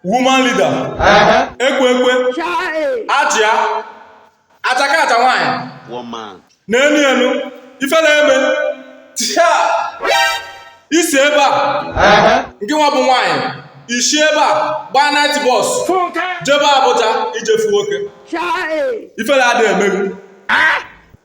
woman leader ekwe ekwe achịa achaka acha nwaanyị n'enu enu ifere eme tia i si ebe a ngị nwa bụ nwaanyị i si ebe a gbaa night bus jebe Abuja ije fụ nwoke ifere adị eme gị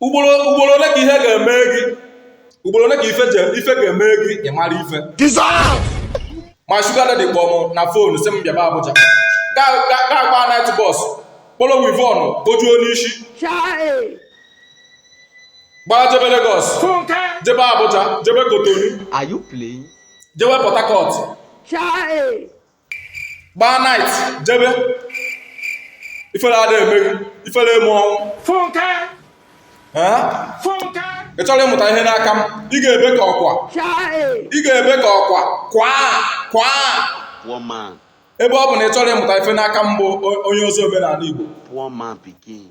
ugboro ugboro ole ka ihe ga-eme gị ugboro ole ka ife je ife ga-eme gị ị mara ife my sugar daddy kpọọ m na phone sị m bịaba Abuja ga-agba night bus kporo weavon kpojuo n'isi gbaa jebe Lagos jebe Abuja jebe Cotonou Are you playing? jebe Port Harcourt gbaa night jebe ifere ada eme gị ifere eme ọnwụ Funke! Ee? Funke! ị chọrọ ịmụta ihe n'aka m ị ga-ebe ka ọkwa ị ga-ebe ka ọkwa kwaa kwaa Poor man, ebe ọ bụ na ị chọrọ ịmụta ife n'aka m bụ o- onye ozi omenala Igbo poor man pikin.